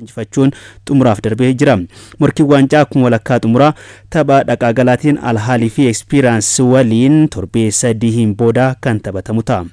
injifachuun xumuraaf darbee jira. Morkiin waancaa akkuma walakkaa xumuraa tapha dhaqaa galaatiin Al Ahly fi Experience waliin torbee sadiin booda kan taphatamu ta'a.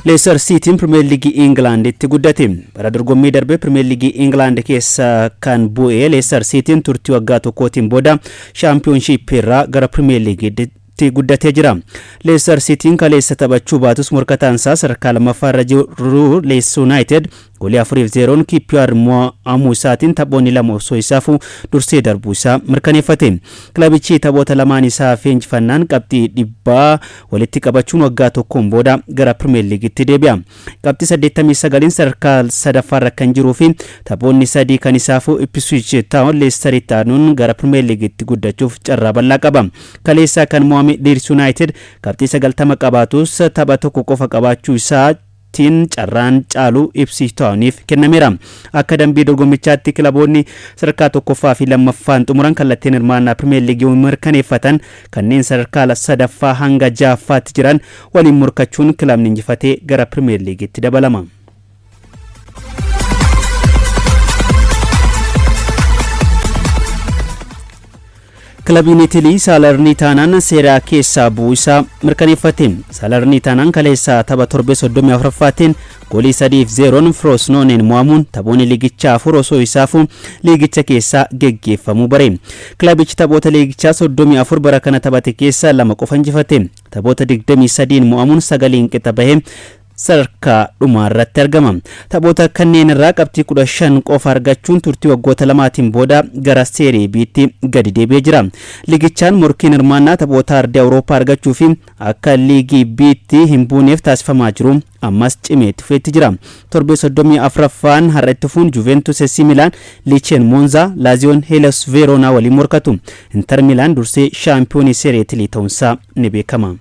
Leestar Siitiin Pirimeer Liigii Ingilaanditti guddate. Bara dorgommii darbe Pirimeer Liigii Ingilaand keessa kan bu'e Leestar Siitiin turtii waggaa tokkootiin booda shaampiyoonshiippii irraa gara Pirimeer Liigiitti tti guddatee jira. Leestar Siitiin kaleessa taphachuu baatus morkataan isaa sadarkaa lammaffaa irra jiru Leeds Yuunaayitid goolii 4 fi 0n QPR mo'amuu isaatiin taphoonni lama osoo isaa hafuu dursee darbuu isaa mirkaneeffate. Kilabichi taphoota lamaan isaa hafee injifannaan qabxii dhibbaa walitti qabachuun waggaa tokkoon booda gara Pirimeer Liigiitti deebi'a. qabxii 89n sadarkaa sadaffaarra kan jiruu fi taphoonni sadii kan isaa hafu Ipswich Taawon Leestaritti aanuun gara Pirimeer Liigitti guddachuuf carraa bal'aa qaba. Kaleessaa kan mo'ame Liids Yuunaayitid qabxii 90 qabaatus tapha tokko qofa qabaachuu isaa tiin carraan caalu Ipswich Taawoniif kennameera. Akka dambii dorgommichaatti kilaboonni sadarkaa tokkoffaa fi lammaffaan xumuran kallattiin hirmaannaa Pirimeer Liigii mirkaneeffatan kanneen sadarkaa sadaffaa hanga ja'affaatti jiran waliin morkachuun kilabni injifate gara Pirimeer Liigiitti dabalama. Kilabiin Itilii Saalarniitaanaan seeraa keessaa bu'uu isaa mirkaneeffate. Saalarniitaanaan kaleessaa tapha torbee 34ffaatiin goolii 3 fi 0n Firoosnooneen mo'amuun taphoonni liigichaa afur osoo isaafuu liigicha keessaa geggeeffamuu bare. Kilabichi taphoota liigichaa 34 bara kana taphate keessaa lama qofa injifate. Taphoota 23n mo'amuun 9n qixa bahee sadarkaa dhumaa irratti argama. Taphoota kanneen irraa qabxii 15 qofa argachuun turtii waggoota lamaatiin booda gara Seerii B'tti gadi deebi'ee jira. Liigichaan morkiin hirmaannaa taphoota Ardii Awurooppaa argachuu fi akka Liigii B'tti hin buuneef taasifamaa jiru ammas cimee itti fufeetti jira. Torbee 34ffaan har'a itti fufuun Juventus SC Milaan, Licheen Moonzaa, Laaziyoon Heelas Veeroonaa waliin morkatu. Inter Milaan dursee shaampiyoonii Serie Itilii ta'uunsaa ni beekama.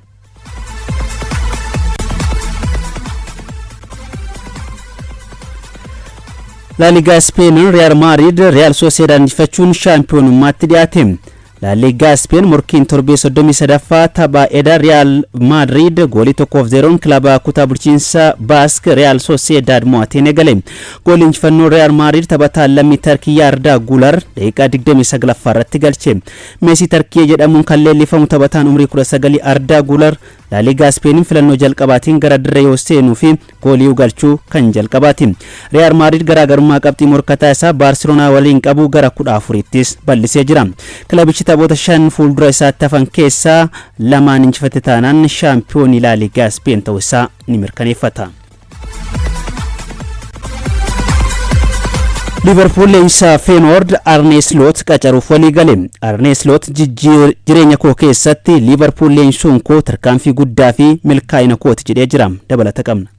Laaligaa Ispeen Riyaal Maadriid Riyaal Sooseedaad injifachuun shaampiyoonummaatti dhiyaate. La Liga Spain morkiin torbee 33ffaa tapha eda Real Madrid goolii 1f 0n kilaba kutaa bulchiinsa Basque Real Sociedad mo'ateen eegale. Goolii injifannoo Real Madrid taphataa lammii Tarkii Yarda Gular daqiiqaa 29ffaa irratti galche. Meesii Tarkiyee jedhamuun kan leellifamu taphataan umrii 19 Arda Gular Laaliigaa Ispeeniin filannoo jalqabaatiin gara dirree yoo seenuu fi gooliiu galchuu kan jalqabaati. Riyaal Maadriid garaagarummaa qabxii morkataa isaa Baarseloonaa waliin qabu gara 14ttis bal'isee jira. Kilabichi taphoota shan fuuldura isaatti hafan keessaa lamaan injifate taanaan shaampiyoonii Laaliigaa Ispeen ta'uu isaa ni mirkaneeffata. liverpool leenjisaa feenoord arnee sloot qacaruuf walii gale arnee sloot jireenya koo keessatti liverpool leenjisuun koo tarkaanfii guddaa fi milkaa'ina kooti jedhee jira dabalata qabna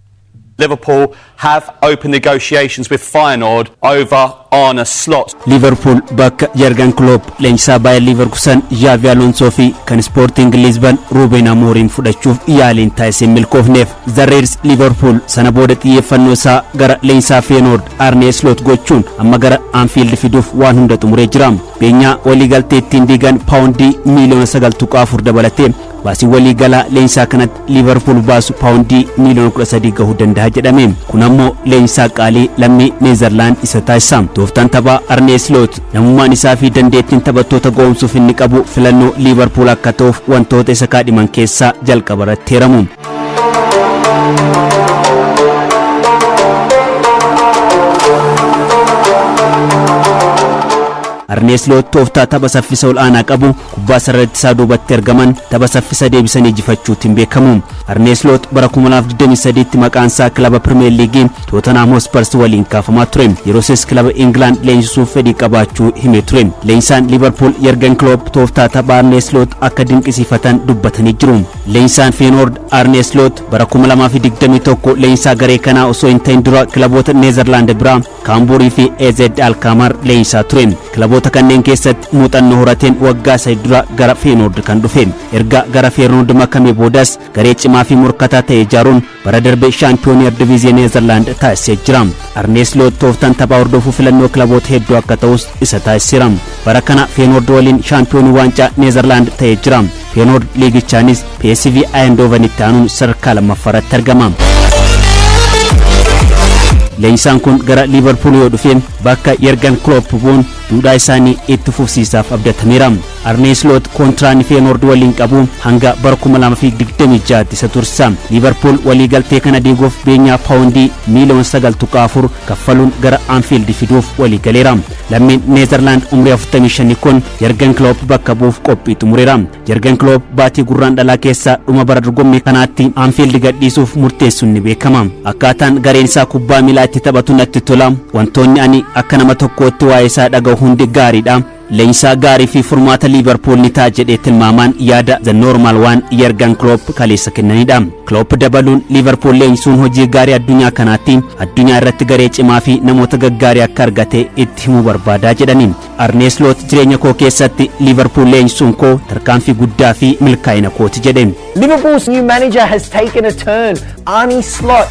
Liverpool have opened negotiations with Feyenoord over Arne Slot. Liiverpuul bakka Jargan Kiloop, leenjisaa Baayer Liiverkusan Zhaavi Aloonsoo fi kan Ispoortiing Liizban Ruuben Amooriim fudhachuuf yaaliin taasise hin milkoofneef. The Reds Liiverpuul sana booda xiyyeeffannoo isaa gara leenjisaa Feenoord Arne Slot gochuun amma gara Anfiild fiduuf waan hunda xumuree jira. Beenyaa waliigaltee ittiin diigan paawundii miiliyoona 9.4 dabalatee Baasiin walii galaa leenjisaa kanatti Liivarpuul baasu paawundii miiliyoona 13 gahuu dandaha jedhame. Kun ammoo leenjisaa qaalii lammii Neezarlaand isa taasisa. Tooftaan taphaa Arnee Isloot, namummaan isaa fi dandeettiin taphattoota ga'oomsuuf inni qabu filannoo Liivarpuul akka ta'uuf wantoota isa kaadhiman keessaa jalqaba irratti heeramu. Arnee Isloot tooftaa tapha saffisa ol'aanaa qabu kubbaa sarara ittisaa duubatti argaman tapha saffisa deebisanii ijifachuutiin beekamu. Arnee Isloot bara 2023tti maqaan isaa kilaba Pirimeer Liigii Tootanhaam Hospars waliin kaafamaa ture. Yerosis kilaba Ingilaand leenjisuuf fedhii qabaachuu himee ture. Leenjisaan Liivarpuul Yergen Kiloop tooftaa tapha Arnee Isloot akka dinqisiifatan dubbatanii jiru. Leenjisaan Feenoord Arnee Isloot bara 2021 leenjisaa garee kanaa osoo hin ta'in dura kilaboota Neezarlaand biraa Kaambuurii fi AZ Alkaamaar leenjisaa ture. Kilaboota kanneen keessatti muuxannoo horateen waggaa sadi dura gara Feenoord kan dhufe. Erga gara Feernoord makamee boodas garee cimaa fi morkataa ta'e ijaaruun bara darbe shaampiyoonii Erdiviiziyee Neezerlaand taasisee jira. Arnee Siloot tooftaan taphaa hordofuu filannoo kilaboota hedduu akka ta'us isa taasiseera. Bara kana Feenoord waliin shaampiyoonii waancaa Neezerlaand ta'ee jira. Feenoord liigichaanis PSV Ayendoovan itti aanuun sadarkaa lammaffaa irratti argama. Leenjisaan kun gara Liivarpuul yoo dhufe bakka Yergan Klopp bu'uun duudhaa isaanii itti fufsiisaaf abdatameera. Arnee Sloot kontiraanni Feenoord waliin qabu hanga bara 2026tti isa tursa. Liivarpuul waliigaltee kana diiguuf beenyaa paawundii miiliyoon 9.4 kaffaluun gara Anfield fiduuf waliigaleera. Lammiin Neezerlaand umrii 45 kun Yergan Klopp bakka bu'uuf qophii xumureera. Jargan Kiloob baatii Gurraandhalaa keessa dhuma bara dorgommii kanaatti Anfield gadhiisuuf murteessuun ni beekama. Akkaataan gareen isaa kubbaa miilaa itti taphatu natti tola. Wantoonni ani akka nama tokkootti waa'ee isaa dhaga'u hundi gaariidha. Leenjisaa gaarii fi furmaata Liiverpuul ni ta'a jedhee tilmaamaan yaada The Normal One Jargan Kiloop kaleessa kennanidha. Kiloop dabaluun Liiverpuul leenjisuun hojii gaarii addunyaa kanaatti addunyaa irratti garee cimaa fi namoota gaggaarii akka argate itti himuu barbaadaa jedhani. Arnee Sloot jireenya koo keessatti Liivarpuul leenjisuun koo tarkaanfii guddaa fi milkaa'ina kooti jedhe. Liverpool's new manager has taken a turn. Arne Slot.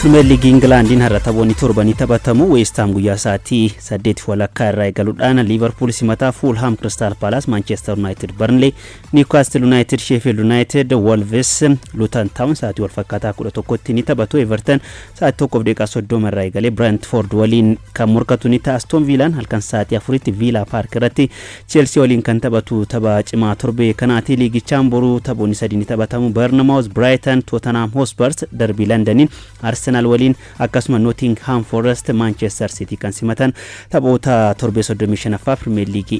Pirimeer Liigii Ingilaandiin har'a taphoonni torbanii taphatamu Weestaam guyyaa sa'aatii saddeetiif walakkaa irraa eegaluudhaan Liivarpuul simataa Fuulhaam Kiristaal Paalaas Maanchestar Yuunaayitid Barnlee Niwkaastil Yuunaayitid Sheefiild Yuunaayitid Wolves Luutan Taawun sa'aatii walfakkaataa kudha tokkotti ni taphatu Everton Sa'aatii 1:30 irraa eegalee Brentford waliin kan morkatu ni ta'a. Aston Viilaan halkan sa'aatii 4tti Viilaa Paark irratti Cheelsii waliin kan taphatu tapha cimaa torbee kanaati. Liigichaan boru taphoonni sadii ni taphatamu. Barnamaawus, Biraayitan, Tootanhaam Hoospars, Darbii Landaniin Arsenaal waliin akkasuma Nootingihaam Forest, Maanchestar Siitii kan simatan taphoota torbee 35ffaa Pirimeer Liigii